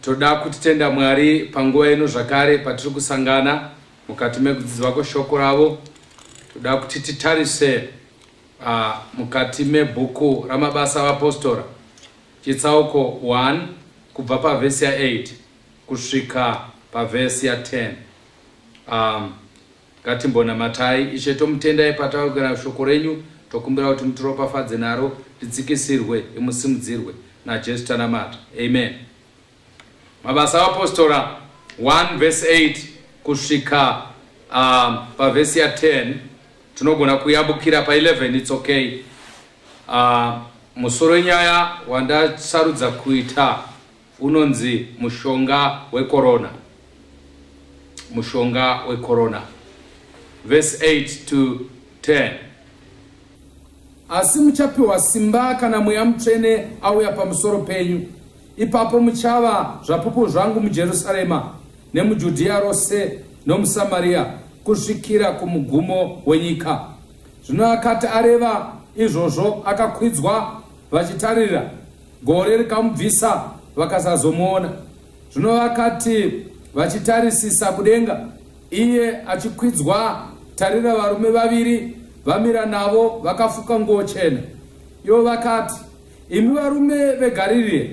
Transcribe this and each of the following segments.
Toda kutitenda Mwari panguva ino zvakare patiri kusangana mukati mekudzidzwa kweshoko ravo. Toda kuti titarise uh, mukati mebhuku ramabasa avapostora chitsauko 1 kubva pavhesi ya8 kusvika pavhesi ya10 um, Ngatimbonamatai. Ishe, tomutendai patawirwa shoko renyu, tokumbira kuti mutiropafadze naro, tidzikisirwe, imusimudzirwe. NaJesu tanamata. Amen. Mabasa aVapostora 1 verse 8 kusvika uh, pavhesi ya 10 tinogona kuyambukira pa 11 its okay. Uh, musoro wenyaya wandasarudza kuita unonzi mushonga wekorona mushonga wekorona verse 8 to 10 asi muchapiwa simba kana mweya mutsvene auya pamusoro penyu ipapo muchava zvapupu zvangu mujerusarema nemujudhiya rose nomusamariya kusvikira kumugumo wenyika zvino akati areva izvozvo akakwidzwa vachitarira Gore rikamubvisa vakasazomuona. Zvino vakati vachitarisisa kudenga, iye achikwidzwa, tarira varume vaviri vamira navo vakafuka nguo chena. Ivo vakati, Imi varume veGarirea,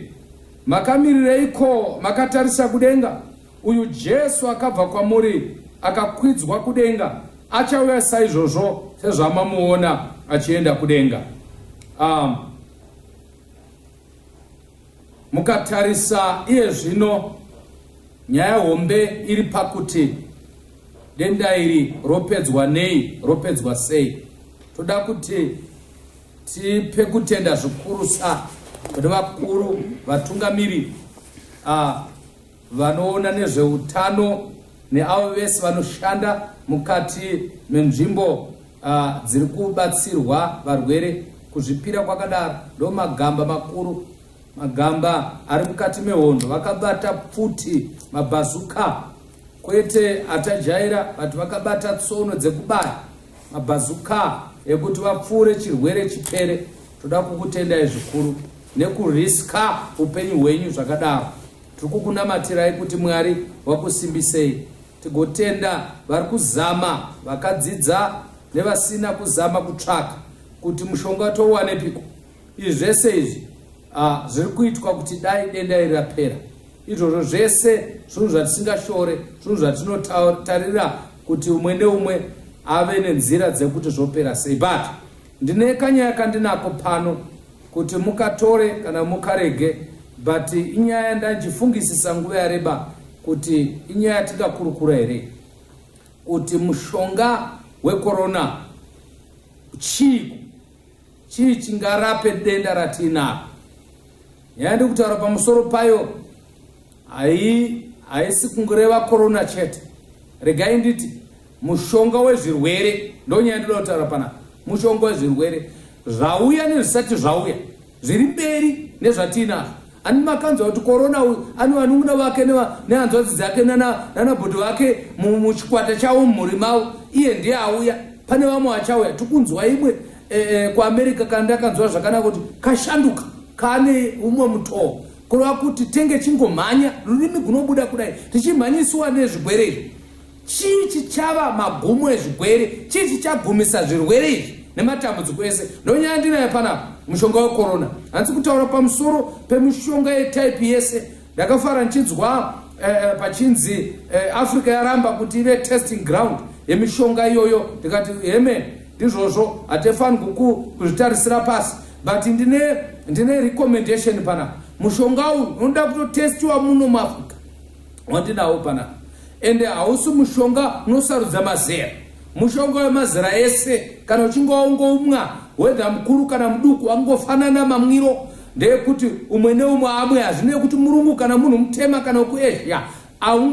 makamirireiko makatarisa kudenga? Uyu Jesu akabva kwamuri akakwidzwa kudenga achauya saizvozvo sezvamamuona achienda kudenga. Um, mukatarisa iye zvino nyaya hombe iri pakuti denda iri ropedzwa nei ropedzwa sei toda kuti tipe kutenda zvikurusa kune vakuru vatungamiri uh, vanoona nezveutano neavo vese vanoshanda mukati menzvimbo uh, dziri kubatsirwa varwere kuzvipira kwakadaro ndo magamba makuru magamba ari mukati mehondo vakabata pfuti mabhazuka kwete atajaira vati vakabata tsono dzekubaya mabhazuka ekuti vapfuure chirwere chipere toda kukutendai zvikuru nekuriska upenyu hwenyu zvakadaro Tiri kukunamatirai kuti Mwari wakusimbisei. Tigotenda vari kuzama, vakadzidza nevasina kuzama kutsvaka kuti mushonga touwanepiko. Izvi zvese izvi ah, zviri kuitwa kuti dai denda iri rapera. Izvozvo zvese zvinhu zvatisingashore, zvinhu zvatinotarira kuti umwe neumwe ave nenzira dzekuti zvopera sei. But Ndine kanyaya kandinako pano kuti mukatore kana mukarege but inyaya ndanjifungisisa nguva yareba kuti inyaya tingakurukura here kuti mushonga wekorona chii chii chingarape denda ratinaro nyaya ndikutaura pamusoro payo Hai, haisi kungureva corona chete. Regai nditi mushonga wezvirwere ndonyaya ndoda kutaura pana mushonga wezvirwere zvauya nezvisati zvauya zviri mberi nezvatiinazvo ani makanzwa kuti korona uyu ani vanun'una vake nehanzwadzi dzake nanabhodhi vake muchikwata chavo mumhuri mavo iye ndiye auya pane vamwe vachauya tikunzwa imwe eh, eh, kuamerica kana ndakanzwa zvakanaka kuti kashanduka kane umwe mutoo kureva kuti tenge chingomhanya rurimi gunobuda kudai tichimhanyisiwa nezvigwere izvi chii chichava magumo ezvigwere chii chichagumisa zvirwere izvi nematambudziko ese ndonyaya ndinayo panapa mushonga wekorona hanzi kutaura pamusoro pemishonga yetaipi yese ndakafara ndichinzwa eh, eh, pachinzi eh, africa yaramba kuti ive testing ground yemishonga iyoyo ndikati hemene izvozvo hatifanirwi kuzvitarisira pasi but ndine ndine recommendation panapa mushonga uyu unoda kutotestiwa muno muafrica wandinawo panapa ende hausi mushonga unosarudza mazera mushonga wemazera ese kana uchinge waungoumwa wedha mukuru kana muduku angofanana mamwiro ndeyekuti umwe neumwe amwe hazvine kuti murungu kana munhu mutema kana kuasia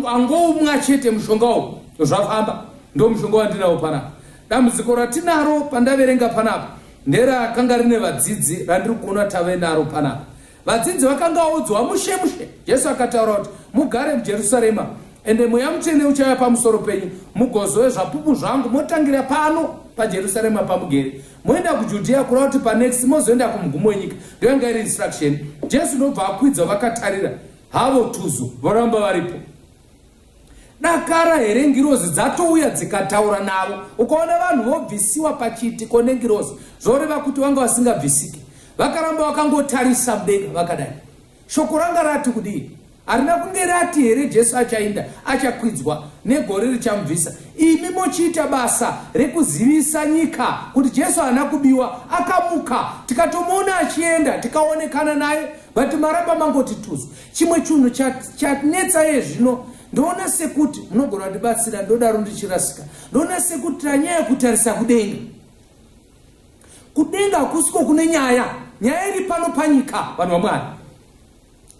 angoumwa chete mushonga uyu zvafamba ndomushonga wandinawo panapa Dambudziko ratinaro pandaverenga panapa nderakanga rine vadzidzi randiri kuona tave naro panapa. Vadzidzi vakanga vaudzwa mushe mushe. Jesu akataura kuti mugare muJerusarema ende mweya mutsvene uchauya pamusoro penyu mugozove zvapupu zvangu motangira pano pajerusarema pamugere moenda kujudhiya kureva kuti panext mozoenda kumugumo wenyika ndoyanga iri instruction jesu ndobva akwidzwa vakatarira havo tuzu voramba varipo Dakara here ngirozi dzatouya dzikataura navo ukaona vanhu vobvisiwa pachiitiko nengirozi zvoreva kuti vanga vasingabvisike vakaramba vakangotarisa mudenga vakadai shoko ranga rati kudii harina kunge rati here jesu achainda achakwidzwa negore richamubvisa imi mochiita basa rekuzivisa nyika kuti jesu haana kubiwa akamuka tikatomuona achienda tikaonekana naye but maramba mangoti tuzu Chimwe chunhu chatnetsa ye zvino ndoona sekuti munogona ndibatsira ndodaro ndichirasika ndoona sekuti tanyaya kutarisa kudenga kudenga hakusiko kune nyaya nyaya iri pano panyika vanhu vamwari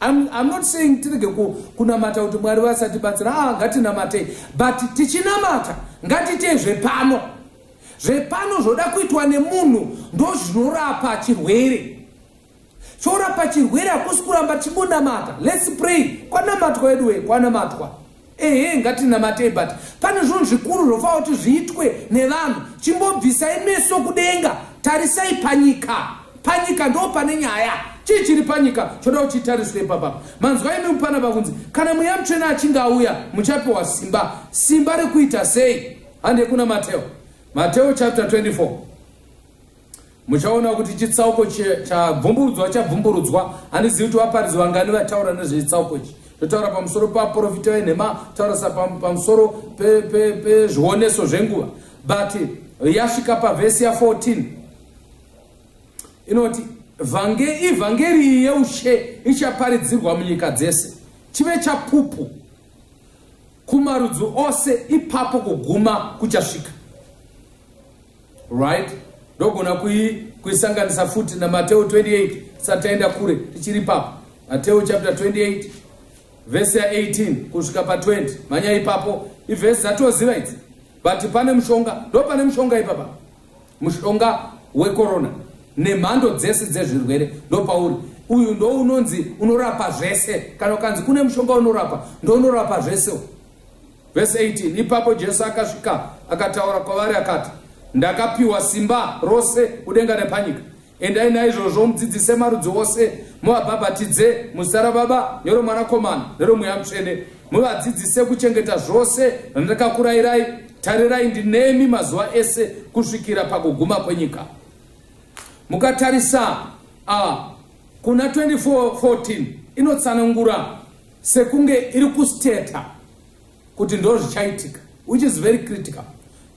im not saying tirege kunamata kuti mwari vasatibatsira a ah, ngatinamatei but tichinamata ngatitei zvepano zvepano zvoda kuitwa nemunhu ndozvinorapa chirwere chorapa chirwere hakusi kuramba tichingonamata lets pray kwanamatwa wedu wee kwanamatwa ehe ngatinamatei but pane zvinhu zvikuru zvofanira kuti zviitwe nevanhu chimbobvisai meso kudenga tarisai panyika panyika ndo pane nyaya chii chiri panyika choda kuti chitariswe ipapa manzwa imi mupana pakunzi kana mweya mutsvene achinge auya muchapiwa simba simba rekuita sei hande kuna mateo mateo chapter 24 muchaona kuti chitsauko chabvumburudzwa chabvumburudzwa handizivi kuti vaparidzi vangani vataura nezvechitsauko ichi totaura pamusoro paprofita venhema taurasa pamusoro pezvioneso zvenguva but yasvika pavhesi ya14 inoti ivhangeri iyi yeushe ichaparidzirwa munyika dzese chive chapupu kumarudzi ose ipapo kuguma kuchasvika right ndogona kuisanganisa futi namateo 28 sataenda kure tichiri papo mateo chapter 28 vhesi ya 18 kusvika pa20 manya ipapo ivhesi dzatoziva idzi but pane mushonga ndo pane mushonga ipapa mushonga wekorona nemhando dzese dzezvirwere ndopauri uyu ndo unonzi unorapa zvese kana ukanzi kune mushonga unorapa ndo unorapa zvese vese 18 ipapo jesu akasvika akataura kwavari akati ndakapiwa simba rose kudenga nepanyika Endai naizvozvo mudzidzise marudzi ose, muvabhabhatidze muzita raBaba neroMwanakomana neromweya mutsvene, muvadzidzise kuchengeta zvose zvandakakurayirai. Tarirai, ndinemi mazuva ese kusvikira pakuguma kwenyika. Mukatarisa uh, kuna 24:14 inotsanangura sekunge iri kustetha kuti ndozvichaitika which is very critical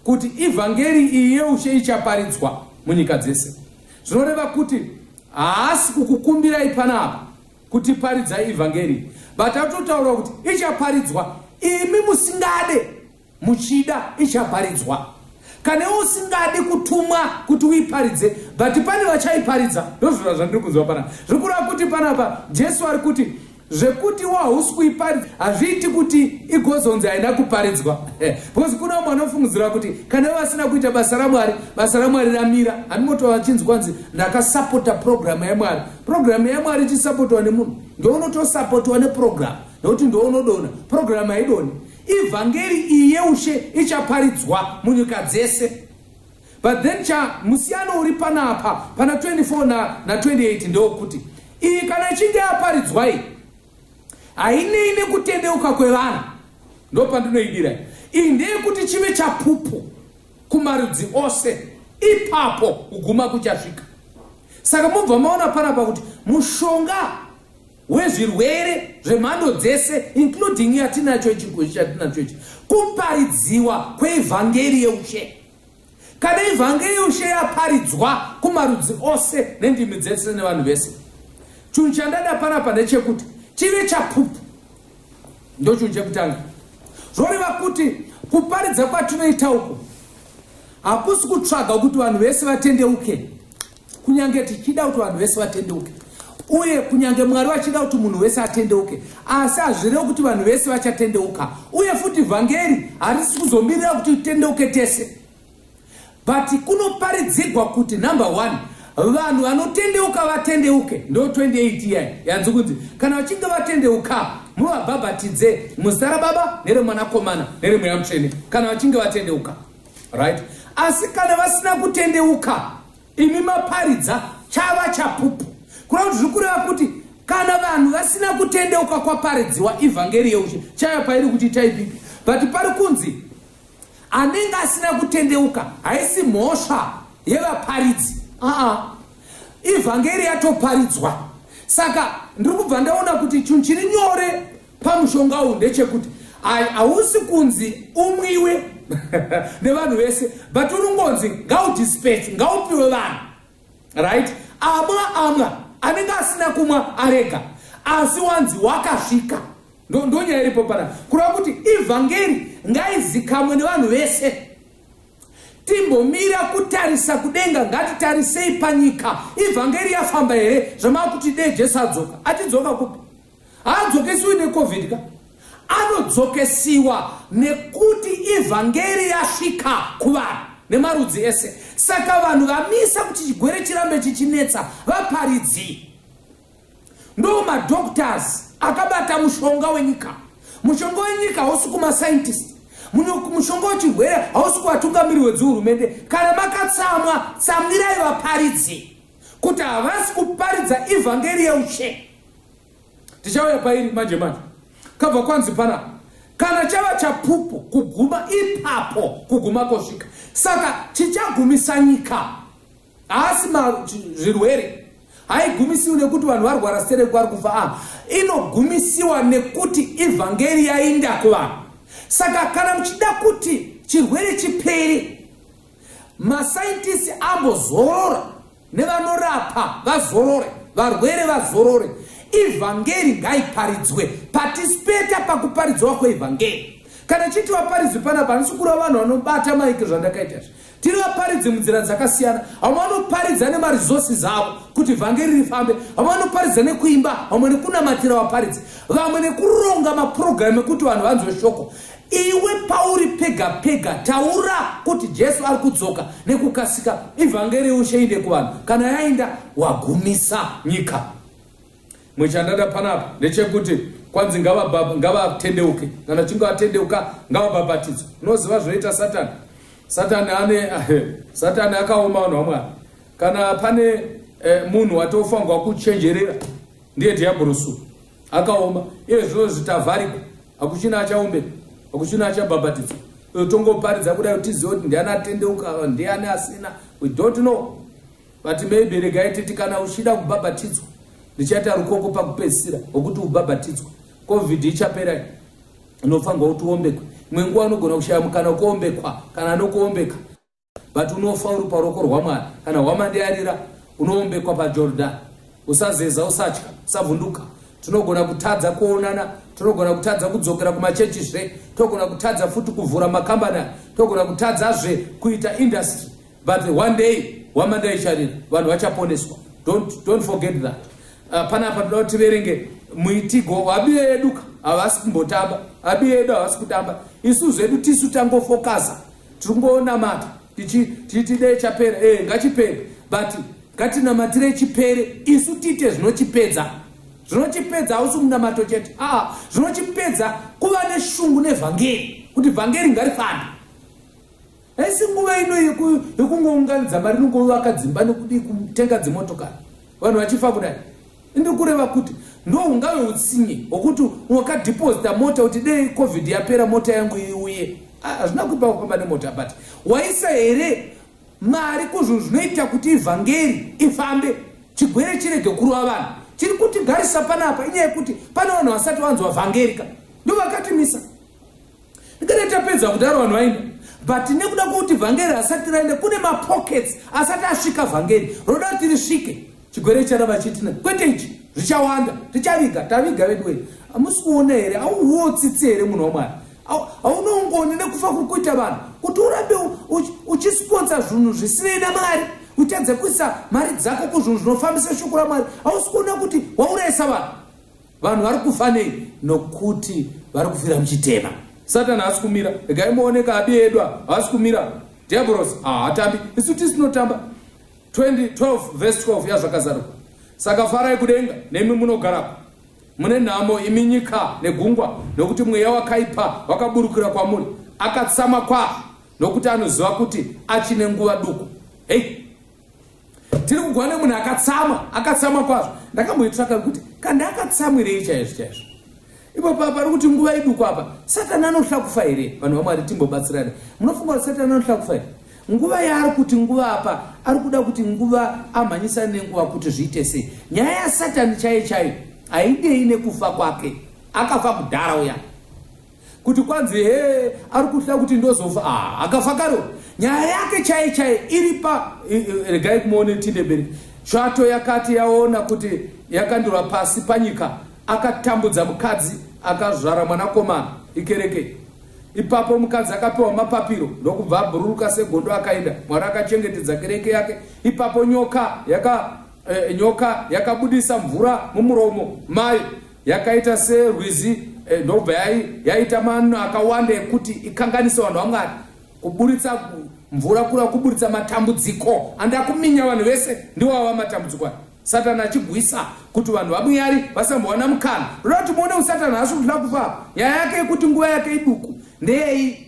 kuti ivhangeri iyi yeushe ichaparidzwa munyika dzese zvinoreva kuti haasi kukukumbirai panapa kuti paridzai ivhangeri but atotaura kuti ichaparidzwa imi musingade muchida ichaparidzwa kana usingadi kutumwa kuti uiparidze but pane vachaiparidza ndozvira zvandiri kunzwa panapa zviri kureva kuti panapa jesu ari kuti zvekuti iwo hausi kuiparidza hazviiti kuti igozonzi haina kuparidzwa because kuna umwe anofungidzira kuti kana ivo vasina kuita basa ramwari basa ramwari ramira handimoto vachinzi kwanzi ndakasapota purogiramu yamwari purogiramu yamwari ichisapotwa nemunhu ndounotosapotwa nepurogiramu nokuti ndounodona purogiramu haidoni ivhangeri iyi yeushe ichaparidzwa munyika dzese but then cha musiyano uri panapa pana 24 na, na 28 ndewokuti iyi kana ichinge yaparidzwai hainei nekutendeuka kwevanhu ndopandinoidira iyi ndeyekuti chive chapupu kumarudzi ose ipapo kuguma kuchasvika saka mobva maona panapa kuti mushonga hwezvirwere zvemhando dzese including yatinacho ichi ngozi chatinacho ichi kuparidziwa kweivhangeri yeushe kana ivhangeri yeushe yaparidzwa kumarudzi ose nendimi dzese nevanhu vese chinhu chandada panapa ndechekuti chive chapupu ndo chinhu chekutanga zvoreva kuti kuparidza kwatinoita uku hakusi kutsvaga kuti vanhu vese vatendeuke okay. kunyange tichida kuti vanhu vese vatendeuke uye kunyange mwari vachida kuti munhu wese atendeuke asi hazvirevo kuti vanhu vese vachatendeuka uye futi vhangeri harisi kuzomirira kuti tendeuke tese but kunoparidzigwa kuti number one vanhu vanotendeuka vatendeuke ndo 28 iya yanzi kunzi kana vachinge vatendeuka muvabhabhatidze muzita rababa neremwanakomana neremweya mutsvene kana vachinge vatendeuka right asi kana vasina kutendeuka imi maparidza chava chapupu kuna kuti zviri kureva kuti kana vanhu vasina kutendeuka kwaparidziwa ivhangeri yeushe chaya pairi kuti taipipi but pari kunzi anenge asina kutendeuka haisi mhosva yevaparidzi aa ivhangeri yatoparidzwa saka ndiri kubva ndaona kuti chinhu chiri nyore pamushonga uyu ndechekuti ai hausi kunzi umwiwe nevanhu vese but unongonzi ngaudispac ngaupiwe vanhu right amwa amwa anenge asina kumwa arega asi wanzi wakasvika ndonyaya iripo pana kureva kuti evhangeri ngaizikamwe nevanhu vese timbomira kutarisa kudenga ngatitarisei panyika evhangeri yafamba here zvamava kuti dee jesu adzoka atidzoka kupi haadzokesiwi necovid ka anodzokesiwa nekuti ivhangeri yasvika kuvanhu nemarudzi ese saka vanhu vamisa kuti chigwere chirambe chichinetsa vaparidzii ndo madoctors akabata mushonga wenyika mushonga wenyika hausi kumascientist mushonga wechirwere hausi kuvatungamiri hwedzihurumende kana makatsamwa tsamwirai vaparidzi kuti havasi kuparidza ivhangeri yeushe tichauya pairi manje manje kabva kwanzi panapa kana chava chapupu kuguma ipapo kuguma kosvika saka chichagumisa nyika haasi zvirwere haigumisiwi nekuti vanhu varwara sere kwari kufa a inogumisiwa nekuti ivhangeri yainda kuvanhu saka kana muchida kuti chirwere chiperi masaitisi ambozorora nevanorapa vazorore varwere vazorore ivhangeri ngaiparidzwe patispeta pakuparidzwa kweivhangeri kana chiti vaparidzwi panapa handisi kureva vanhu vanobata maiki zvandakaita zvi tiri vaparidzi munzira dzakasiyana vamwe vanoparidza nemaresources avo kuti vhangeri rifambe vamwe vanoparidza nekuimba vamwe nekunamatira vaparidzi vamwe nekuronga mapurogiramu ekuti vanhu vanzwe shoko Iwe pauri pega pega taura kuti Jesu ari kudzoka nekukasika ivhangeri ushe inde kuvanhu kana yainda wagumisa nyika mwe chandada panapa ndechekuti kwanzi ngavatendeuke kana chinge vatendeuka ngavabhabhatidzwe unoziva zvinoita satani satani ane satani akaoma vanhu vamwari kana pane eh, munhu watofanirwa kuchenjerera ndiye dhiabhurusu akaoma iye zvino zvitavhariko hakuchina achaombe hakuchina achabhabhatidzwa eh, tongoparidza kuda kuti tizive kuti ndiani atendeuka eh, ndiani asina we don't know but maybe regai titi kana uchida kubhabhatidzwa ndichaita rukoko pakupedzisira wokuti ubhabhatidzwa covid ichapera inofanirwa kuti uombekwe imwe nguva anogona kushaya mukana ukuombekwa kana anokuombeka but unofa uri paruoko rwamwari kana hwamande yarira unoombekwa pajordan usazeza usatya usavhunduka tinogona kutadza kuonana tinogona kutadza kudzokera kumachechi zve tinogona kutadza futi kuvhura makambani tinogona kutadza zve kuita industry but one day hwamande yaicharira vanhu vachaponeswa don't, don't forget that uh, panapa toda kuti tiverenge muitigo wabiyo yeduka havasi kumbotamba abiyo yedu havasi kutamba isu zvedu tisu tangofokaza tiri kungonamata tichiti dei chapera e eh, ngachipere but ngatinamatire chipere isu tiite zvinochipedza zvinochipedza hausi munamato chete aa ah, zvinochipedza kuva neshungu nevhangeri kuti vhangeri ngarifambe haisi nguva ino yekungounganidza mari nongovaka dzimba nokudii kutenga dzimotokari vanhu vachifa kudai ndokureva kuti ndo ungave utsinye hwokuti wakadhipozita mota kuti dei covid yapera mota yangu iuye ah, hazvina kuipa kufamba nemota but waisa here mari kuzvinhu zvinoita kuti ivhangeri ifambe chigwere chirege kurova vanhu chiri kutigarisa panapa inyaya yekuti pane vanhu vasati vanzwa vhangeri ka ndovakatimisa ndikati tapedza kudaro vanhu vainda but nekuda kwokuti vhangeri asati raenda kune mapockets asati asvika vhangeri roda kuti risvike chigwere chara vachitina kwete ichi zvichawanda tichaviga taviga vedu wei hamusi kuona here auwo tsitsi here munhu wamwari haunoungoni nekufa kuri kuita vanhu kuti urambe uchisiponsa zvinhu zvisinei namwari utadze kuisa mari dzako kuzvinhu zvinofambisa shoko ramwari hausi kuona kuti waurayisa vanhu vanhu vari kufa nei nokuti vari kufira muchitema satani haasi kumira regai muoneka abi edu haasi kumira diaboros haatambi ah, isu tisinotamba 2012 vhesi 12 yazvakazaruka saka farai kudenga nemi munogarako mune nhamo imi nyika negungwa nokuti mweya wakaipa wakaburukira kwamuri akatsama kwazvo nokuti anoziva kuti achine nguva duku hei tiri kugona nemunhu akatsama akatsama kwazvo ndakamboitsvaka kuti kanda akatsamwirei chaizvo chaizvo ipapa pari kuti nguva iduku apa satani anohlakufa here vanhu vamwari timbobatsirana munofunga kuti satani anohlakufa here nguva yaari kuti nguva apa ari kuda kuti nguva amhanyisa nenguva kuti zviite sei nyaya yasatani chaiyo chaiyo haidei nekufa kwake akafa kudhara uya kuti kwanzi hee ari kuda kuti ndozofa ah, akafa karo nyaya yake chai chai iri pa regai kumuone tindeberi tsvato yakati yaona kuti yakandurwa pasi panyika akatambudza mukadzi akazvara mwanakomana ikereke ipapo mukadzi akapiwa mapapiro ndokubva abhururuka segondo akaenda mwari akachengetedza kereke yake ipapo nyoka yaka eh, nyoka yakabudisa mvura mumuromo mayo yakaita serwizi eh, ndobva yaita manhu akawanda ekuti ikanganisa vanhu vamwari kuburitsa mvura kura kuburitsa matambudziko andakuminya vanhu vese ndiwava matambudziko aya satani achigwisa kuti vanhu vamuyari vasambowana mukana roda kuti muone usatani haasi kutila kufa nyaya yake yekuti nguva yake iduku ndeyei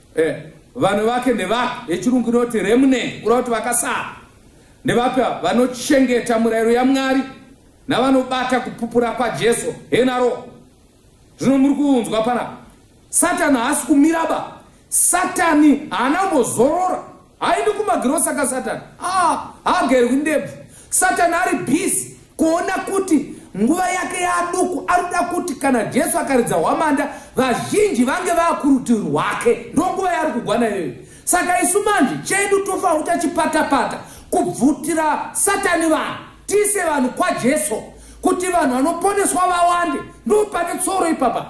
Eh, vanhu vake ndevapi yechirungu inoti remnant kureva kuti vakasara ndevapi ava vanochengeta murayiro yamwari navanobata kupupura kwajesu henaro zvino muri kuunzwa panapa satani haasi kumiraba satani haana kumbozorora Haendi kumagirosa ka Satan. Ah, haagerwi ndebvu. Satan ari busy kuona kuti nguva yake yaduku arikuda kuti kana Jesu akaridza hwamanda vazhinji vange vakurutivi rwake. Ndonguva yaari kugwana iyoyo. Saka isu manje chedu tofa utachipata pata kubvutira Satani vanhu. Tise vanhu kwa Jesu kuti vanhu vanoponeswa vawande. Ndopane tsoro ipapa.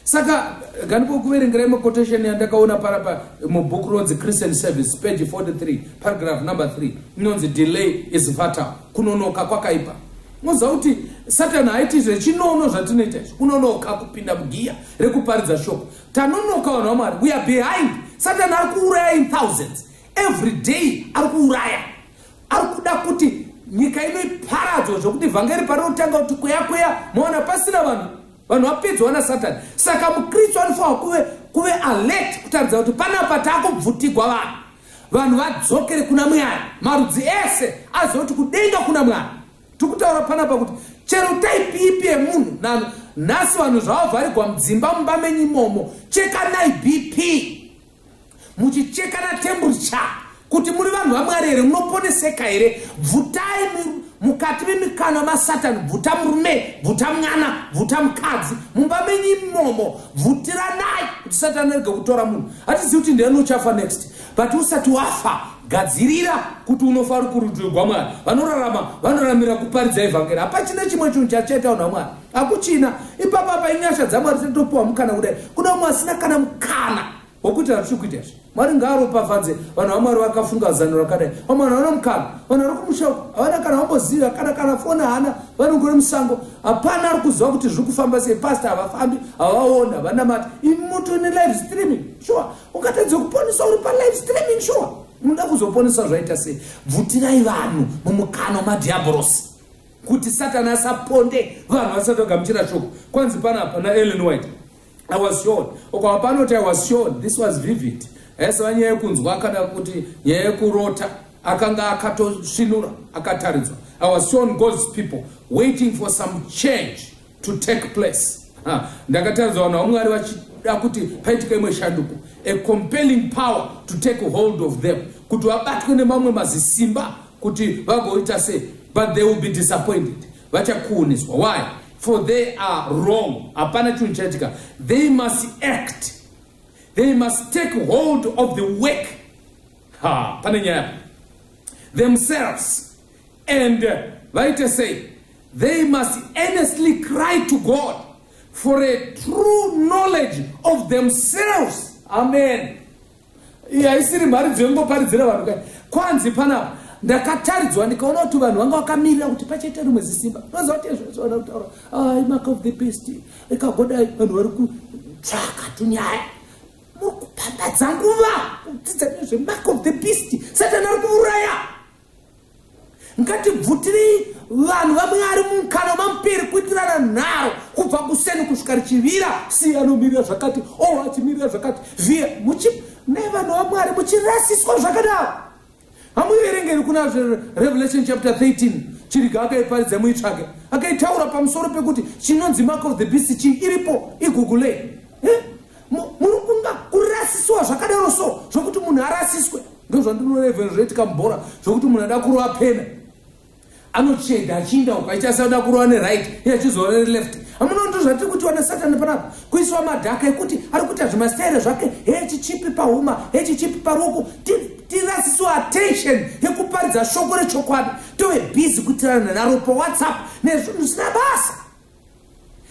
saka ganikokuverengerai maquotation yandakaona parapa mubook ronzi christian service page 43 paragraph number 3 inonzi delay is fatal kunonoka kwakaipa moziva kuti satani haiti zvechinono zvatinoita izvi kunonoka kupinda mugiya rekuparidza shoko tanonoka vanhu vamwari we are behind satani ari kuuraya in thousands every day ari kuuraya ari kuda kuti nyika ino iparadzwa zvokuti vhangeri parinotanga kuti kweya kweya moona pasina vanhu vanhu vapedzwa nasatani saka mukristu anofanira kuve kuve alert kutaridza kuti panapa takubvutigwa vanhu vanhu vadzokere kuna mwari marudzi ese aziva kuti kudenga kuna mwari tiri kutaura panapa kuti chero taipi ipi yemunhu nano nhasi vanhu zvavavharigwa mudzimba mumba menyu imomo chekanai bp muchichekana temperature kuti muri vanhu vamwari here munoponeseka here bvutai mukati memikanwa masatani bvuta murume bvuta mwana bvuta mukadzi mumba menyu imomo bvutiranai kuti satani arege kutora munhu hatizivi kuti ndiani uchafa next but usati wafa gadzirira kuti unofa uri kurutivi gwamwari vanorarama vanoramira kuparidza evhangeri hapachina chimwe chinhu chachaita vanhu vamwari hakuchina ipapo apa inyasha dzamwari dzinotopiwa mukana kudai kuda umwe asina kana mukana wokuitira zviri kuita izvi mwari ngaaropafadze vanhu vamwari vakafunga zano rakadai vamwe vanhu havana mukana vanhu vari kumushaku havana kana vamboziva kana kana foni hana vanongore musango hapana ari kuziva kuti zviri kufamba sei pasta havafambi havaona vanamati imuto nelive streaming shuwa ungatadze kuponesa uri palive streaming shuwa unoda kuzoponesa zvaita sei bvutirai vanhu mumukana wamadhiabhorosi kuti satani asaponde vanhu vasati vagamuchira shoko kwanzi pana pana ellen white i was shown okwa panoti i was shown this was vivid haisava nyaya yekunzwa kana kuti nyaya yekurota akanga akatosvinura akataridzwa i was shown god's people waiting for some change to take place ndakatadza vanhu vamwari vachida kuti paitika imwe shanduko a compelling power to take hold of them kuti vabatwe nemamwe mazisimba kuti vagoita sei but they will be disappointed vachakuuniswa why for they are wrong hapana chinhu chaitika they must act they must take hold of the work ha pane nyaya themselves And uh, vaite sei? They must earnestly cry to God for a true knowledge of themselves. Amen. Yaisiri mari dzembo paridzira vanhu kai. Kwanzi panapa ndakataridzwa ndikaona kuti vanhu vanga vakamirira kuti pachete rimwe zisimba. Ndoziva kuti zvazvaona kutaura. Ah, mark of the beast. Ikagoda vanhu vari kutsvaka tunyaya. Muri kupambadza nguva kudzidza nezve mark of the beast. Satani ari kuuraya. ngatibvutirei vanhu vamwari mumukana wamamuperi kuitirana nharo kubva kuseni kusvika richivira si anomirira zvakati o oh, achimirira zvakati via nevanhu vamwari muchirasiswa zvakadaro hamuiverengeri kuna revelation chapter 13 chiriga akaiparidza muitsvage akaitaura pamusoro pekuti chinonzi mark of the beast chii iripo igugulei eh? muri kunga kurasisiwa zvakadaro so zvokuti munhu arasiswe ndozvandinorevhera zvoitika mubhora zvokuti munhu ada kurova pena anocheda achiinda uko aiti asada kurova neright iye achizova neleft amuna ndo zvatiri kutiwa nesatani panapa kuisiwa madhaka ekuti ari kuita zvimastaire zvake hechichipi pahuma hechichipi paruoko tirasisiwa attention yekuparidza shoko rechokwadi tove busy kutirana naro pawhatsapp nezvinhu zvisina basa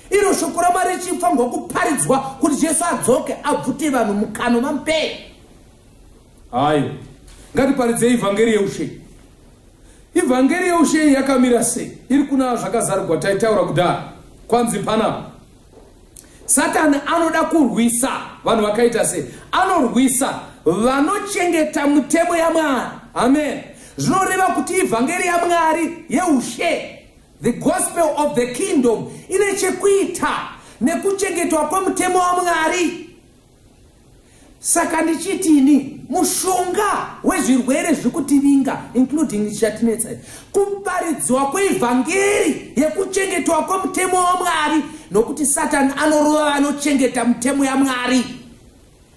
iro shoko ramwari richifanirwa kuparidzwa kuti jesu adzoke abvute vanhu mukano vamupei hayo ngatiparidzei ivhangeri yeushe ivhangeri yeushe yakamira sei iri kuna zvakazarugwa taitaura kudhara kwanzi panapa satani anoda kurwisa vanhu vakaita sei anorwisa vanochengeta mutemo yamwari amen zvinoreva kuti ivhangeri yamwari yeushe The gospel of the kingdom ine chekuita nekuchengetwa kwemutemo waMwari. Saka ndichitini mushonga wezvirwere zvekutivinga including chatinetsa kuparidzwa kweivhangeri yekuchengetwa kwemutemo waMwari nokuti Satan anorova vanochengeta mutemo yaMwari.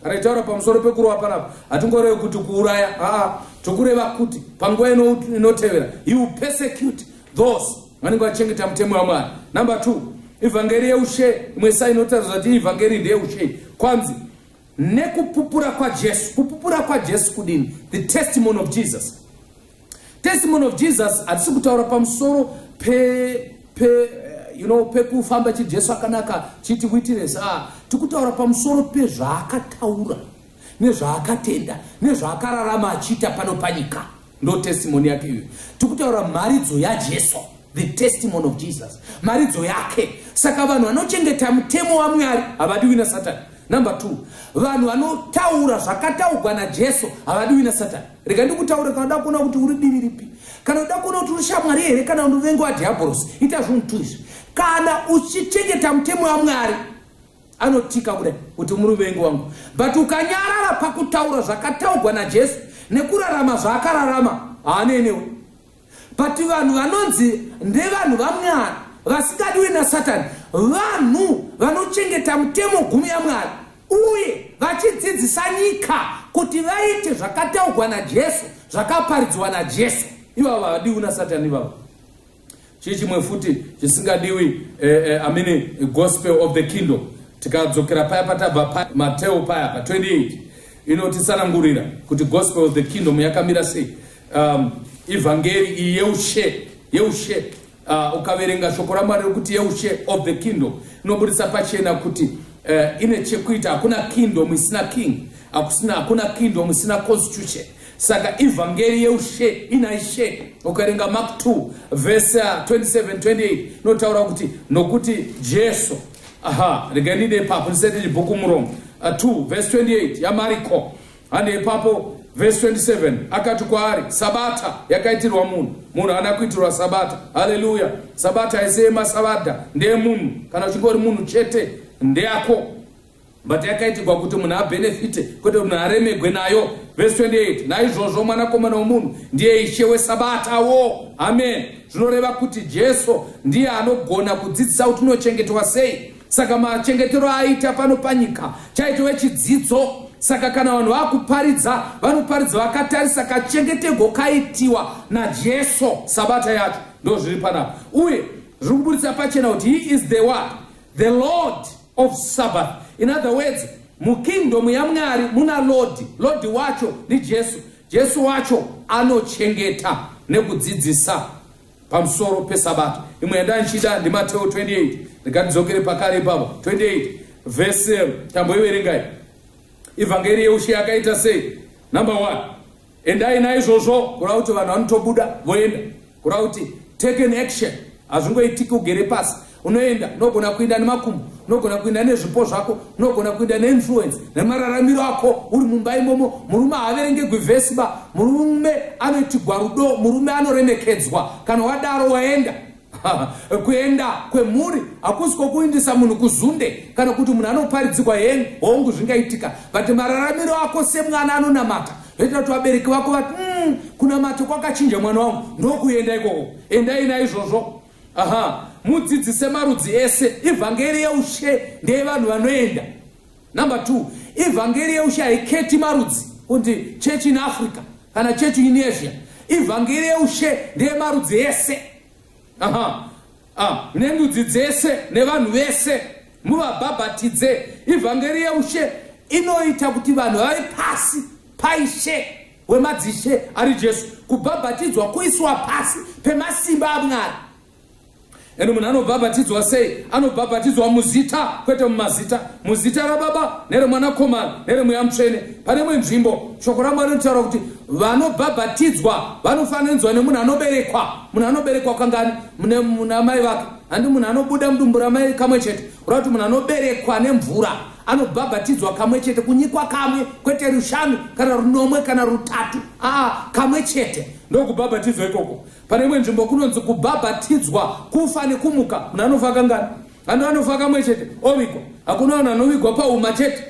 Kana itaura pamusoro pekurowa panapa hatingorevi kuti kuuraya haa tokureva kuti panguva inotevera he will persecute those vanenge vachengeta mutemo wamwari number two ivhangeri yeushe imwe sa inotaridza kuti ivhangeri ndeyeushe kwanzi nekupupura kwajesu kupupura kwajesu kudini the testimony of jesus Testimony of Jesus hatisi kutaura pamusoro pe pe eh, you know pekufamba chi Jesu akanaka chiti witness ah tikutaura pamusoro pezvaakataura nezvaakatenda nezvaakararama achiita pano panyika ndo testimony yake iyo tikutaura mharidzo yaJesu the testimony of Jesus mharidzo yake saka vanhu vanochengeta mutemo waMwari havadiwi nasatani number two vanhu vanotaura zvakataugwa najesu havadiwi nasatani rega ndikutaura kana uda kuona kuti uri divi ripi kana uda kuona kuti uri shamwari here kana unovenga wadhiabhorosi ita zvinhu two izvi kana uchichengeta mutemo wamwari anotika kudai kuti muri vengi wangu but ukanyarara pakutaura zvakataugwa najesu nekurarama zvaakararama haanei newe but vanhu vanonzi ndevanhu vamwari vasingadiwe nasatani vanhu vanochengeta mutemo gumi yamwari uye vachidzidzisa nyika kuti vaite zvakataugwa najesu zvakaparidzwa najesu ivavo havadiwi nasatani ivavo chii chimwe futi chisingadiwi eh, eh, amini gospel of the kingdom tikadzokera paya patabva pa, mateo paya pa 28 inotitsanangurira kuti gospel of the kingdom yakamira sei um, ivhangeri iyi yeushe yeushe uh, ukaverenga shoko ramwari rekuti yeushe of the kingdom inoburitsa pachena kuti uh, ine chekuita hakuna kingdom isina king hakusina hakuna kingdom isina constitution saka ivhangeri yeushe ina ishe ukaverenga mark 2 vese 2728 inotaura kuti nokuti jesu aha regai ndide ipapo ndisati ndibhuku muromo uh, 2 vese 28 yamariko Hande ipapo verse 27 akati kwaari sabata yakaitirwa munhu munhu haana kuitirwa sabata haleluya sabata haise yemasabata ndeyemunhu kana uchingori munhu chete ndeyako but yakaitirwa kuti munhu abhenefite kwete kuti munhu aremegwe nayo verse 28 naizvozvo mwanakomana womunhu ndiye ishe wesabatawo amen zvinoreva kuti jesu ndiye anogona kudzidzisa kuti unochengetwa sei saka machengetero aaita pano panyika chaitove chidzidzo saka kana vanhu vakuparidza vanoparidza vakatarisa kachengetego kaitiwa najesu sabata yacho ndo zviri panapa uye zviri kuburitsa pachena kuti he is the one the lord of sabbath in other words mukingdom yamwari muna lodi lodi wacho ndijesu jesu wacho anochengeta nekudzidzisa pamusoro pesabata imwe yandandichida ndimateo 28 ndikatidzokere pakare ipapo 28 vese um, tamboiverengai evhangeri yeushe yakaita sei number one endai naizvozvo kureva kuti vanhu vanotobuda voenda kureva kuti take an action hazvingoitiki ugere pasi unoenda unogona kuenda nemakumbo unogona kuenda nezvipo zvako unogona kuenda neinfluence nemararamiro ako uri mumba imomo murume haaverengegwi vhesi ba murume anoitigwa rudo murume anoremekedzwa kana wadaro waenda kuenda kwemhuri hakusi kwokuindisa munhu kuzunde kana kuti munhu anoparidzigwa heni hongu zvingaitika but mararamiro ako semwana anonamata zvoita kuti vabereki vako vati mm, kunamata kwakachinja mwana wangu ndokuenda ikoko endai naizvozvo aha mudzidzise marudzi ese ivhangeri yeushe ndeyevanhu vanoenda number two ivhangeri yeushe haiketi marudzi kuti church in africa kana church in asia ivhangeri yeushe ndeyemarudzi ese aha ah, nendudzi dzese nevanhu vese muvabhabhatidze ivhangeri yeushe inoita kuti vanhu vave pasi paishe wemadzishe ari jesu kubhabhatidzwa kuiswa pasi pemasimba amwari ende munhu anobhabhatidzwa sei anobhabhatidzwa muzita kwete mumazita muzita rababa neremwanakomana neremweya mutsvene pane imwe nzvimbo shoko ramwari rinotaura kuti vanobhabhatidzwa vanofananidzwa nemunhu anoberekwa munhu anoberekwa kangani munamai vake handi munhu anobuda mudumbu ramai kamwe chete kureva kuti munhu anoberekwa nemvura anobhabhatidzwa kamwe chete kunyikwa kamwe kwete rushanu kana runomwe kana rutatu aa kamwe chete ndokubhabhatidzwa ikoko pane imwe nzvimbo kunonzi kubhabhatidzwa kufa nekumuka munhu anofa kangani anhu anofa kamwe chete ovigwa hakuna vanhu anovigwa pauma chete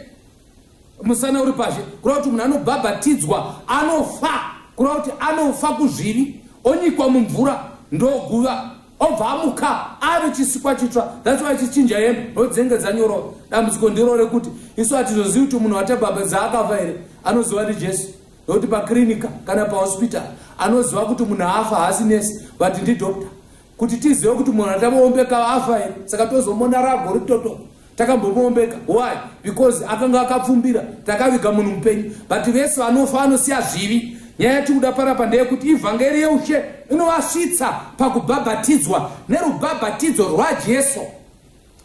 musana uri pazhe kureva kuti munhu anobhabhatidzwa anofa kureva kuti anofa kuzvivi onyikwa mumvura ndoguva obva amuka ave chisikwa chitsva thats why chichinja hembe nodzinenge dzanyorova dambudziko ndiro rekuti isu hatizozivi kuti munhu watabhabhatiza akafa here anoziva ndi jesu nokuti pakirinika kana pahospital anoziva kuti munhu afa haasi nesi but ndidoctor kuti tizive kuti munhu atamoombeka afa here saka tozomona rago ritoto takambomoombeka why because akanga akapfumbira takaviga munhu mupenyu but vese vanofa vanosiya zvivi nyaya yatikuda parapa ndeyekuti ivhangeri yeushe inovasvitsa pakubhabhatidzwa nerubhabhatidzo rwajesu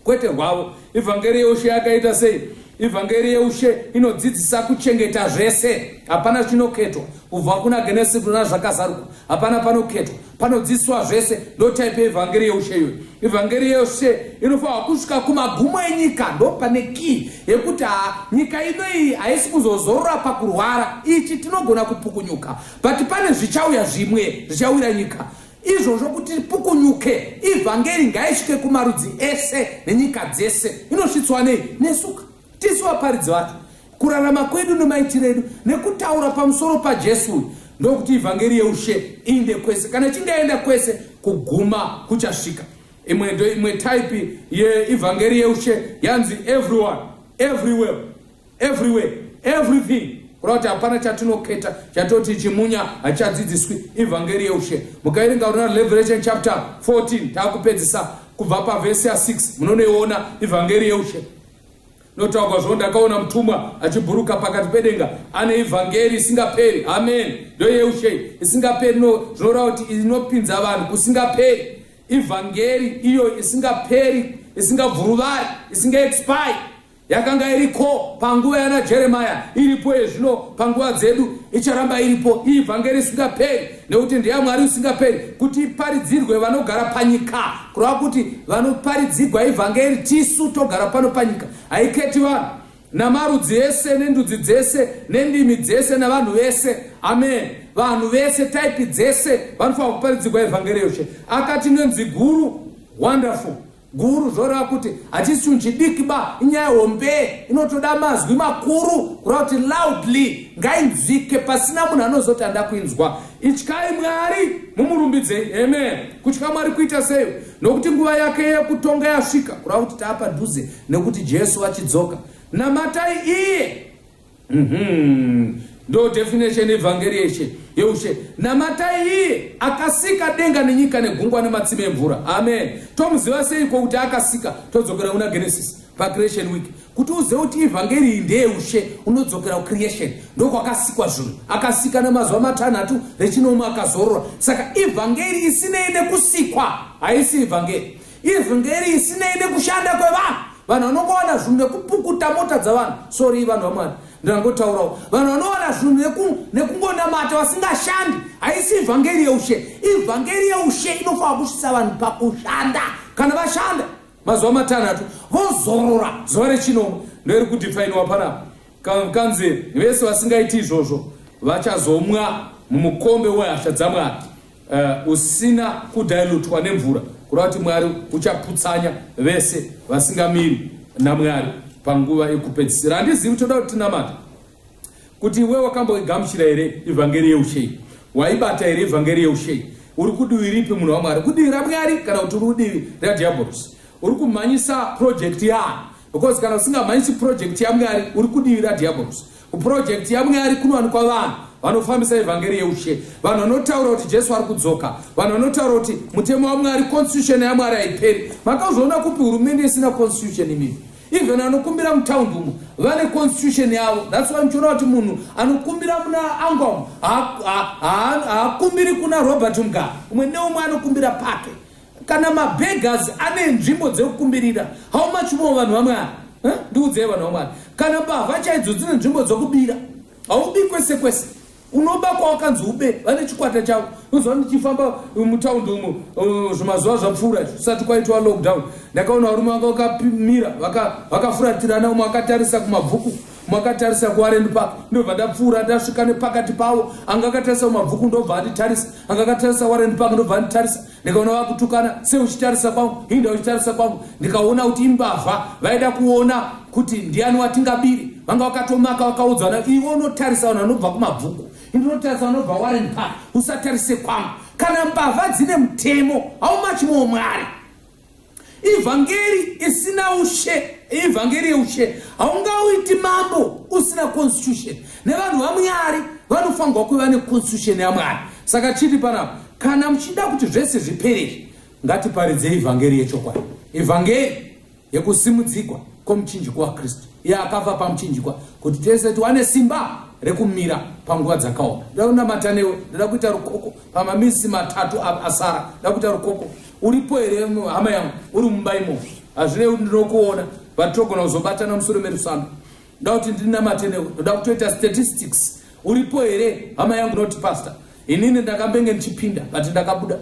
kwete rwavo ivhangeri yeushe yakaita sei ivhangeri yeushe inodzidzisa kuchengeta zvese hapana chinoketwa kubva kuna genesi kuna zvakazarwa hapana panoketwa panodzidziswa zvese ndotaipi yeivhangeri yeushe iyoyo ivhangeri yeushe inofanirwa kusvika kumagumo enyika ndopane kii yekuti ha nyika ino iyi haisi kuzozorora pakurwara ichi tinogona kupukunyuka but pane zvichauya zvimwe zvichawira nyika izvozvo kuti ripukunyuke ivhangeri ngaisvike kumarudzi ese nenyika dzese inosvitswa nei nesuka tisu vaparidzi vacho kurarama kwedu nemaitiro edu nekutaura pamusoro pajesu uyu ndokuti ivhangeri yeushe iinde kwese kana chingaenda kwese kuguma kuchasvika imwe ndo imwe type yeivhangeri yeushe yanzi everyone everywhere everywhere everything kureva kuti hapana chatinoketa chatoti chimunya hachadzidziswi evhangeri yeushe mukairinga unona revelation chapter 14 taakupedzisa kubva pavhesi ya6 munonoiona evhangeri yeushe notaurwa zvo ndakaona mutumwa achibhuruka pakati pedenga ane evhangeri isingaperi amen ndo yeushe isingaperi no zvinoreva kuti inopinza vanhu kusingaperi evhangeri iyo isingaperi isingabvuruvari isingaexpire yakanga iriko panguva yana jeremaya iripo yezvino panguva dzedu icharamba iripo iyi vhangeri isingaperi nekuti ndeya mwari usingaperi kuti iparidzirwe vanogara panyika kureva kuti vanoparidzirwa ivhangeri tisu togara pano panyika haiketi vanhu namarudzi ese nendudzi dzese nendimi dzese navanhu vese amen vanhu vese taipi dzese vanofanira kuparidzirwa ivhangeri yoshe akati nenzwi guru wonderful guru zvoreva kuti hachisi chinhu chidiki ba inyaya hombe inotoda mazwi makuru kureva kuti loudly ngainzwike pasina munhu anozoti anda kuinzwa ityai mwari mumurumbidzei amen kutya mwari kuita sei nokuti nguva yake yekutonga yasvika kureva kuti taapadhuze nekuti jesu vachidzoka namatai iye Mhm. Ndo definition evhangeri yeshe yeushe namatai iye akasika denga nenyika negungwa nematsime emvura amen tomuziva seiko kuti akasika todzokera kuna genesis pacreation week kuti uzive kuti evhangeri iyi ndeyeushe unodzokera kucreation ndokwakasikwa zvinhu akasika nemazuva matanhatu rechinomu akazorora saka evhangeri isinei nekusikwa haisi evhangeri Izwi nderei sinei nekushanda kwevanhu. Vanhu vanokuwana zvinhu nekupukuta mota dzavanhu. Sorry vanhu vamwari. Ndangotaurawo. Vanhu vanowana zvinhu neku nekungonamata vasingashandi. Haisi evangeri yeushe. Evangeri yeushe inofanira kusvitsa vanhu pakushanda. Kana vashanda mazuva matanhatu vozorora zuva rechinomwe ndori kudifainiwa panapa kanzi vese vasingaiti izvozvo vachazomwa mumukombe wehasha dzamwari uh, usina kudailutwa nemvura kureva kuti mwari uchaputsanya vese vasingamiri namwari panguva yekupedzisira handizivi toda kuti tinamata kuti iwe wakamboigamuchira here evhangeri yeushei waibata here evhangeri yeushei uri kudivi ripi munhu wamwari kudivi ramwari kana kuti uri kudivi radiabolos uri kumhanyisa project yaani because kana usingamhanyisi project yamwari uri kudivi radiabolos Kupurojekiti yaMweya ari kunowanikwa vanhu vanofambisa evhangeri yeushe, vanhu vanotaura kuti Jesu ari kudzoka, vanhu vanotaura kuti mutemo waMwari, constitution yaMwari haiperi. Makazviona kupi hurumende isina constitution imii? even anokumbira mutaundi umo vane constitution yavo thats why muchiona kuti munhu anokumbira muna angom haakumbiri kuna robert mugara umwe neumwe anokumbira pake kana mabeggers ane nzvimbo dzekukumbirira how much more vanhu vamwari eh? ndiudzei vanhu vamwari kana mbavha chaidzo dzine nzvimbo dzokubira haubi kwese kwese unoba kwawakanzi ube vane chikwata chavo unoziva ndichifamba mutaundi umo uh, zvimazuva zvapfuura zvisati kwaitwa lockdown ndakaona varume vanga vakamira vakafuratirana umwe akatarisa kumabvuku makatarisa kuwarend park ndobva ndapfuura ndasvika nepakati pavo anga akatarisa kumabvuku ndobva anditarisa anga akatarisa warend park ndobva anditarisa ndikaona vakutukana sei uchitarisa kwangu hinda uchitarisa kwangu ndikaona kuti imbavha vaida kuona kuti ndiani watingabiri vanga vakatomaka vakaudzana iwe unotarisa vanhu vanobva kumabvuku inotarisa vanobva warren park usatarise kwangu kana mbavha dzine mutemo haumachi moo mwari ivhangeri isina ushe ivhangeri yeushe haungauiti mambo usina constitution nevanhu vamwari vanofanirwa kuva neconstitution yamwari saka chiti panapa kana muchida kuti zvese zviperezvi ngatiparidze ivhangeri yechokwadi ivhangeri yekusimudzikwa kwomuchinjiko wakristu iye akafa pamuchinjikwa kuti tese tiwane simba rekumira panguva dzakaoma ndoda kunamata newe ndoda kuita rukoko pamamisi matatu asara ndoda kuita rukoko uripo here hama yangu uri mumba imo hazvinei kuti ndinokuona but togona kuzobatana musoro merusano ndoda kuti ndinamate newe ndoda kutoita statistics uripo here hama yangu noti pastor inini ndakambenge ndichipinda but ndakabuda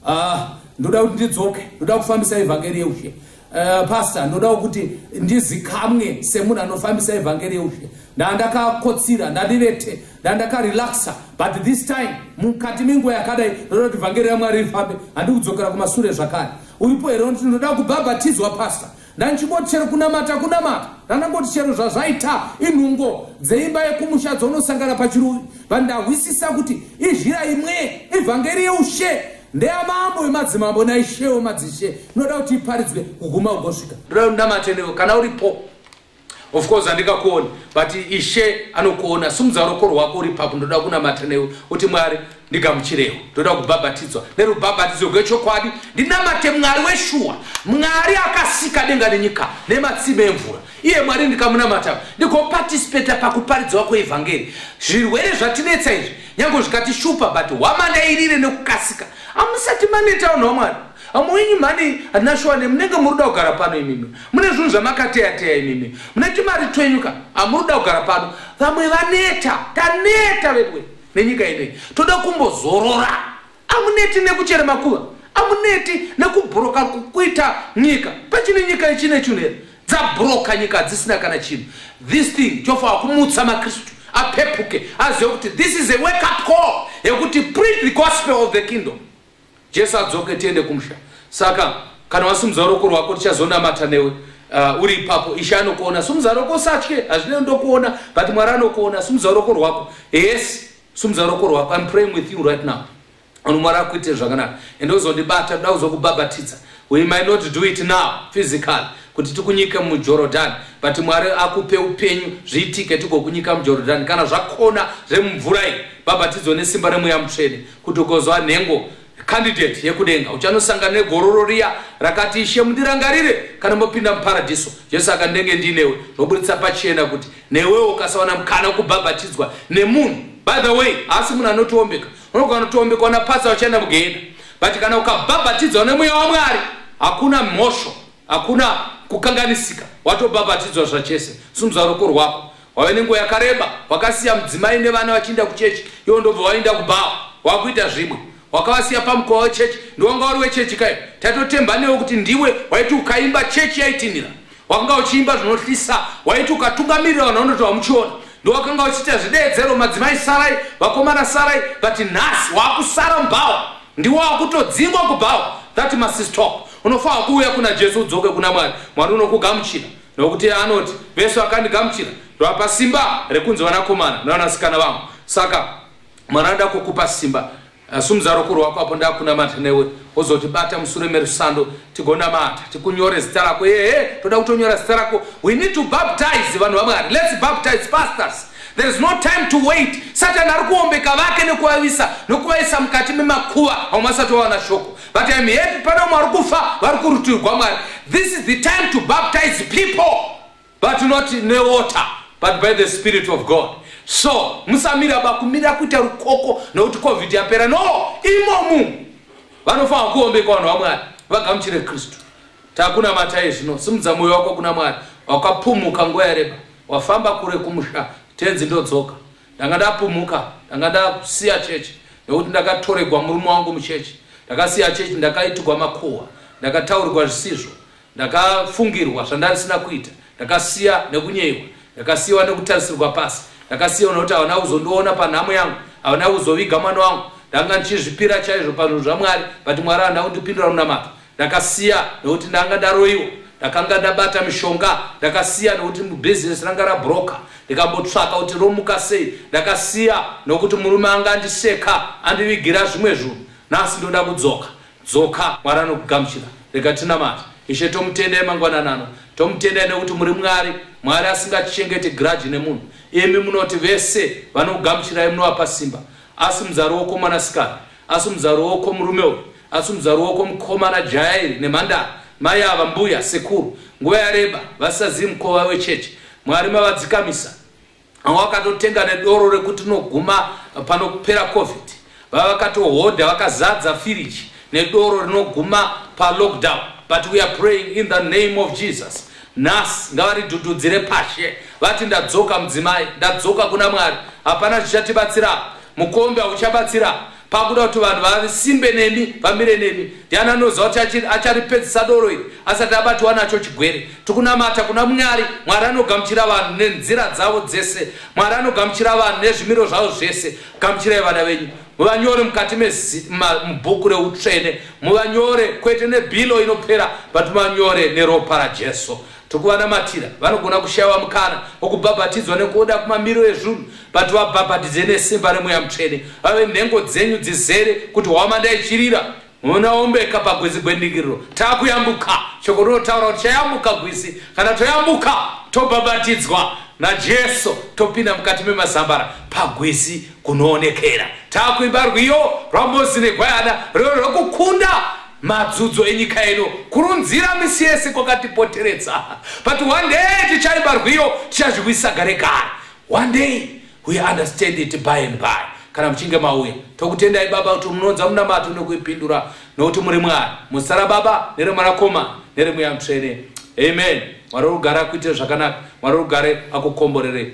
ah, ndoda kuti ndidzoke ndoda kufambisa evhangeri yeushe Uh, pastor ndodawo kuti ndizikamwe semunhu anofambisa evhangeri yeushe ndandakakotsira ndandirete ndandakarelaxa but this time mukati menguva yakadai ndoda kuti vhangeri yamwari rifambe handi kudzokera kumasure zvakare uripo here kuti ndoda kubhabhatidzwa pastor ndandichingoti chero kunamata kunamata ndandangoti chero zvazvaita inhungo dzeimba yekumusha dzaunosangana pachiruvi vandahwisisa kuti izhira imwe evhangeri yeushe ndeyamambo wemadzimambo naishewo madzishe inoda kuti iparidzwe kuguma ugosvika ndoda ndamatendewo kana uripo of course handikakuoni but ishe anokuona simudza roko rwako uri papo ndoda kunamata newe uti mwari ndigamuchirewo ndoda kubhabhatidzwa nerubhabhatidzo rwechokwadi ndinamate mwari weshuwa mwari akasika denga nenyika nematsime emvura iye mwari ndikamunamata ndikopatisipeta pakuparidzwa kweevhangeri zvirwere zvatinetsa izvi nyange zvikatishupa but hwamadairire nekukasika amusati maneta vanhu vamwari vamwe wenyu mhani hatina shuwa ne munenge muri kuda kugara pano imimi mune zvinhu zvamakateyateya imimi mune timari twenyu ka hamuri kuda kugara pano vamwe vaneta taneta vedwe nenyika inei toda kumbozorora Amuneti nekuchera makuva, amuneti nekubhuroka kuita nyika. Pachine nyika ichine chinhu here? Dzabhuroka nyika hadzisina kana chinhu. This thing chofa kumutsa maKristu apepuke azive kuti this is a wake up call yekuti preach the gospel of the kingdom. Jesu adzoke tiende kumusha. Saka kana wasimudza ruoko rwako tichazonamata newe uh, uri ipapo ishe anokuona simudza roko satye hazvine ndokuona but mwari anokuona simudza roko rwako yes Sumudza ruoko rwako. I'm praying with you right now. Ano mwari akuite zvakanaka. Ende uzondibata ndoda kuzokubhabhatidza. We might not do it now physically kuti tikunyike muJordan but mwari akupe upenyu zviitike tigokunyika muJordan kana zvakona zvemumvura iyi bhabhatidzo nesimba remweya mutsvene kuti ukozwa nhengo candidate yekudenga uchanosangana negororo riya rakati ishe mundirangarire kana mopinda muparadhiso jesu akandenge ndinewe zvoburitsa pachena kuti Newewo ukasawana mukana wekubhabhatidzwa nemunhu, by the way, haasi munhu anotiombeka. Unogona kutoombekwa napasa vachienda mugehena. But kana ukabhabhatidzwa nemweya waMwari, hakuna mhosho, hakuna kukanganisika. Watobhabhatidzwa zvachese. Sumudza ruoko rwako. Wave nenguva yakareba, wakasiya mudzimai nevana vachiinda kuchechi, iwo ndobva wainda kubhawa. Wakuita zvimwe. Wakavasiya pamukova wechechi, ndiwanga wari wechechi kayo. Tatotemba newe kuti ndiwe waiti ukaimba chechi yaitinhira. wakanga uchiimba zvinohlisa waiti ukatungamirira vanhu vanoti wamuchiona ndowakanga uchiita zvideedzero madzimai sarai vakomana sarai vati nhasi waakusara mubhawa ndiwo wakutodzingwa kubhawa that must stop unofanira kuuya kuna jesu udzoke kuna mwari mwari unokugamuchira nokuti anoti vese vakandigamuchira ndovapa simba rekunzi vanakomana nevanasikana vangu saka mwari anoda kukupa simba Asi muzaro kuri wako apo ndakunamata newe wozoti bata musure merusando tigonamata tikunyore zita rako ehe toda kutonyora zita rako we need to baptize vanhu vamwari let's baptize pastors there is no time to wait satani ari kuombeka vake nekuvavisa nokuvaisa mukati memakuva vamwe vasati vawana shoko but im happy pane vamwe vari kufa vari kurutirwa mwari this is the time to baptize people but not newater but by the spirit of god so musamira bakumira kuita rukoko nokuti covid yapera no imomu vanofanira kuombekwa vanhu vamwari vagamuchire kristu takuna mataye zvino simudza mwoyo wako kuna mwari wakapumuka nguva yareba wafamba kure kumusha tenzi ndodzoka ndanga ndapumuka ndanga ndasiya chechi nekuti ndakatoregwa murume wangu muchechi ndakasiya chechi ndakaitigwa makuhwa ndakataurirwa zvisizvo Ndakafungirwa zvandarisina kuita, ndakasiya nekunyeyiwa, ndakasiyiwa nekutarisirwa pasi, ndakasiyiwa nekuti havana kuzondiona panhamo yangu, havana kuzoviga mwana wangu. Ndanga ndichizvipira chaizvo pazvinhu zvaMwari but Mwari havana kundipindura munamato. Ndakasiya nekuti ndanga ndaroyiwa, ndakanga ndabata mishonga, ndakasiya nekuti business ranga rabroka, ndikambotsvaka kuti romuka sei, ndakasiya nekuti murume anga andiseka andivigira zvimwe zvinhu. Nhasi ndoda kudzoka, Dzoka, Mwari anokugamuchira. Rega tinamate. Ishe, tomutendai mangwanani ano. Tomutendai nekuti muri Mwari. Mwari asingachengeti grudge nemunhu. Imi munoti vese vanokugamuchirai munovapa simba. Asi muzaro woko mwanasikana. Asi muzaro woko murume uyu. Asi muzaro woko mukomana jaya iri nemhandara. Mai ava, mbuya, sekuru. Nguva yareba vasisazivi mukova wechechi. Mwari mavadzikamisa. vamwe vakatotenga nedoro rekuti rinoguma panopera covid vava vakatohodha vakazadza firiji nedoro rinoguma palockdown but we are praying in the name of jesus nhasi ngavaridhudhudzire pashe vati ndadzoka mudzimai ndadzoka kuna mwari hapana chichatibatsira mukombe hauchabatsira pakuda kuti vanhu vasimbe nemi vamire nemi ndiani anoziva kuti acharipedzisa doro iri asati abatiwa nacho chigwere tikunamata kuna mwari mwari anogamuchira vanhu nenzira dzavo dzese mwari anogamuchira vanhu nezvimiro zvavo zvese gamuchirai vana venyu muvanyore mukati mubhuku reutsvene muvanyore kwete nebhilo inopera but muvanyore neropa rajesu Tokuvanamatira vanogona kushaiwa mukana wokubhabhatidzwa nekuda kumamiriro ezvunhu, but vabhabhatidze nesimba remweya mutsvene, vave nhengo dzenyu dzizere kuti hwamanda ichirira munaombeka pagwizi gwendingiriro takuyambuka shoko rinotaura kuti chayambuka gwisi kana toyambuka tobhabhatidzwa najesu topinda mukati memazambara pagwizi kunoonekera takuimba rwiyo rwamozi negwayana rwiyo rwekukunda madzudzo enyika ino kurunzira misi yese kwakatipoteredza but one day tichaimba rwiyo tichazviwisa gare gare one day we understand it by and by kana muchinge mauya tokutendai baba kuti munoonza munamato nekuipindura nokuti muri mwari musara baba neremwanakoma neremweya mutsvene amen mwari rugare akuitire zvakanaka mwari rugare akukomborerei